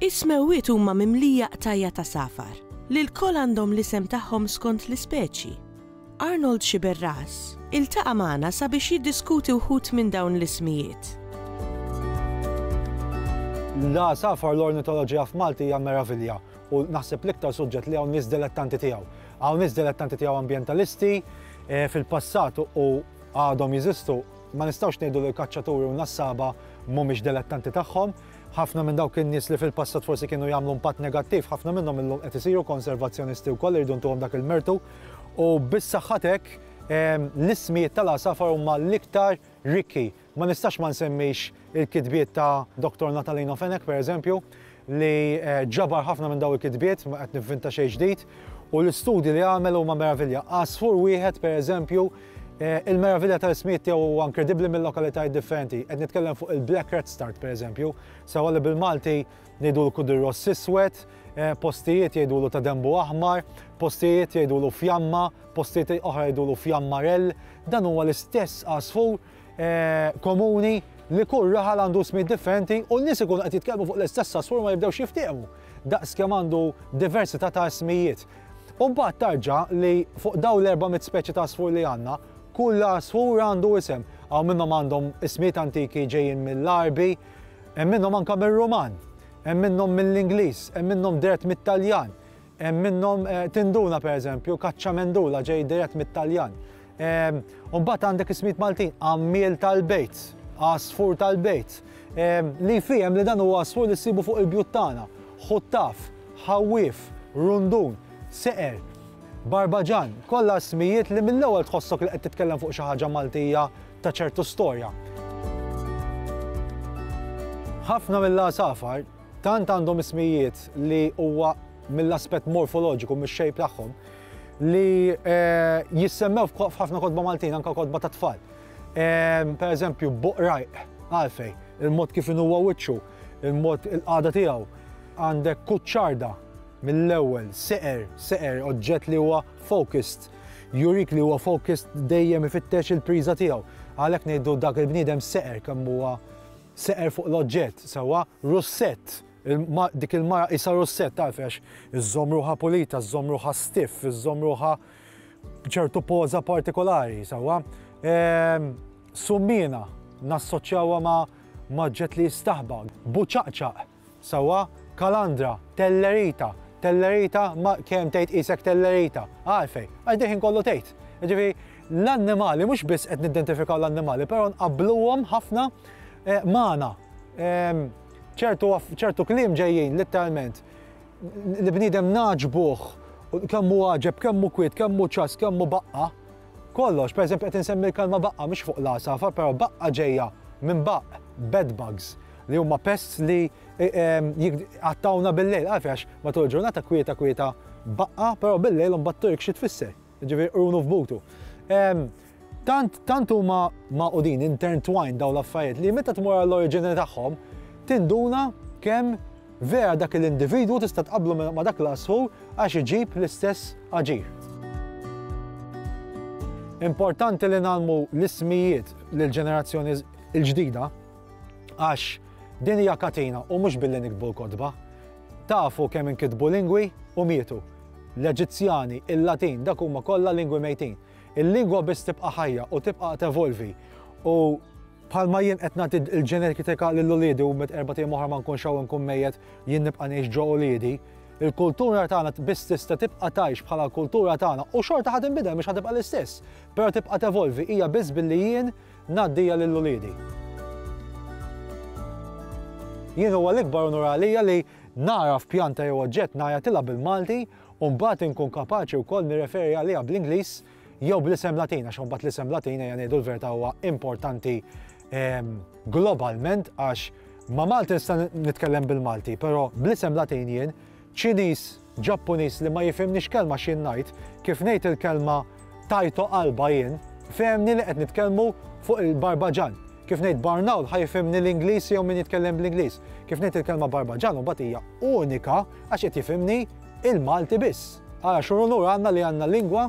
Is-smewwiet huma mimlija qtajja' ta' safar, li lkoll għandhom l-isem tagħhom skont l-ispeċi. Arnold Sciberras iltaqa' magħna sabiex jiddiskuti wħud minn dawn l-ismijiet. L-għasafar, l-ornitoloġija f'Malti hija meravilja u naħseb l-iktar suġġett li hawn nies dilettanti tiegħu. Hawn nies dilettanti tiegħu ambjentalisti, eh, fil-passat u għadhom jeżistu, ma nistgħux ngħidu li l-kaċċaturi u n-nassaba mhumiex dilettanti tagħhom, Ħafna minn dawk in-nies li fil-passat forsi kienu jagħmlu impatt negattiv, ħafna minnhom illum qed isiru konservazzjonisti wkoll irridu ntuhom dak il-mertu. U biss saħħatek l-ismijiet tal-għasafar huma l-iktar rikki. Ma nistax ma nsemmix il-kitbiet ta' Dr. Natalino Fenech, pereżempju, li eh, ġabar ħafna minn daw il-kitbiet, ma qed nivvinta xejn ġdid, u l-istudji li għamel huma meravilja. Għasfur wieħed, pereżempju, Eh, il-meravilja tal-ismijiet tiegħu huwa inkredibbli mill-lokalitajiet differenti. Qed nitkellem fuq il-Black Red Start pereżempju, sewa li bil-Malti ngħidu l kudir ross iswed, eh, postijiet jgħidu l ta' dembu aħmar, postijiet jgħidu l fjamma, postijiet oħra jgħidu l fjamma rell. Dan huwa l-istess għasfur eh, komuni li kull raħal għandu smid differenti u n-nies ikunu qed jitkellmu fuq l-istess għasfur ma jibdewx jiftehmu. Daqs kemm għandu diversità ta' smijiet. U mbagħad tarġa' li fuq dawn l-400 speċi ta' għasfur li għandna, kull għasfur għandu isem. Hawn minnhom għandhom ismijiet antiki ġejjin mill-Għarbi, hemm minnhom anke mir-Ruman, hemm minnhom mill-Ingliż, hemm minnhom dirett mit-Taljan, hemm minnhom eh, tinduna pereżempju, kaċċamendula ġej dirett mit-Taljan. U mbagħad għandek ismijiet Maltin, għammiel tal-bejt, għasfur tal-bejt, li fihem li dan huwa għasfur li ssibu fuq il-bjut tagħna, ħuttaf, ħawwif, rundun, seqer, barbaġan, kollha smijiet li mill-ewwel tħossok li qed titkellem fuq xi ħaġa Maltija ta' ċertu storja. Ħafna mill-għasafar Tant għandhom ismijiet li huwa mill-aspett morfoloġiku mix-xejp tagħhom li eh, jissemmew f'ħafna kotba Maltin, anka kotba ta' tfal. Eh, per eżempju, buqrajq, għalfej, il-mod kif huwa wiċċu, il-mod il-qada tiegħu, għandek kuċċarda mill-ewwel, seqer, seqer, oġġett li huwa focused, jurik li huwa focused dejjem ifittex il-priża tiegħu. Għalhekk ngħidu dak il-bniedem seqer kemm huwa seqer fuq l-oġġett, sewwa russett, dik il-mara qisha russett taf għax iżżomm ruħha pulita, żżomm ruħha stiff, iżżomm ruħha b'ċertu poża partikolari, sewwa. Ehm, Summina nassoċjawha ma' maġġet li jistaħba, buċaqċaq, Sewwa, Kalandra, Tellerita, Tellerita, ma kemm tgħid qisek Tellerita. Għalfejn? Għax dil-ħin kollu tgħid. Jiġifieri l-annimali mhux biss qed nidentifikaw l-annimali, però nqabbluhom ħafna eh, magħna. Ehm, ċertu kliem ġejjin litteralment li bniedem naġbuh kemm hu għaġeb, kemm hu kwiet, kemm hu ċas, kemm hu baqqa. Kollox, pereżempju qed insemmi l-kalma baqqa mhux fuq l-għasafar, però baqqa ġejja minn baqq, bed bugs, li huma pests li jqattgħuna bil-lejl. Għalfi għax matul il-ġurnata kwieta kwieta baqqa, però bil-lejl mbagħad Turk xi tfisser, ġifieri qrunu f'butu. Tant tant huma maqudin intertwined dawn l-affarijiet li meta tmur għall-oriġini tagħhom tinduna kemm vera dak l-individwu tista' tqablu ma' dak l-asħur għax iġib l-istess aġir. Importanti li nagħmlu l-ismijiet lill-ġenerazzjoni l-ġdida Għax din hija katina u mhux billi niktbu l-kotba. Tafu kemm inkitbu lingwi u mietu. L-Eġizzjani, il-Latin, dak huma kollha lingwi mejtin. Il-lingwa biss tibqa' ħajja u tibqa' tevolvi. U bħalma jien qed nagħti l-ġenetika lil uliedi u mit erba' tiem oħra ma nkunx hawn inkun mejjet jien nibqa' ngħix ġo uliedi, il-kultura tagħna biss tista' tibqa' tgħix bħala l-kultura tagħna u xorta ħa tinbidel mhux ħa tibqa' l-istess, però tibqa' tevolvi, hija biss billi jien Ngħaddija lil uliedi. Jien huwa l-ikbar unur għalija li nagħraf pjanta jew oġġett ngħajatilha bil-Malti u mbagħad inkun kapaċi wkoll nirreferi għaliha bl-Ingliż jew bl-isem Latin għax mbagħad l-isem Latin ejja ngħidu l-verità huwa importanti ehm, globalment għax ma' Malti nista' nitkellem bil-Malti, però bl-isem Latin jien Ċiniż Ġappuniż li ma jifhimnix kelma x'jien ngħid, kif ngħid il-kelma Taito qalba jien, fehemni li qed nitkellmu fuq il-Barbaġan. Kif ngħid Barnaul ħa jifhimni l-Ingliż jew min jitkellem bl-Ingliż. Kif ngħid il-kelma Barbaġan imbagħad hija unika għax qed jifhimni il-Malti biss. Ara x'unur għandna li għandna lingwa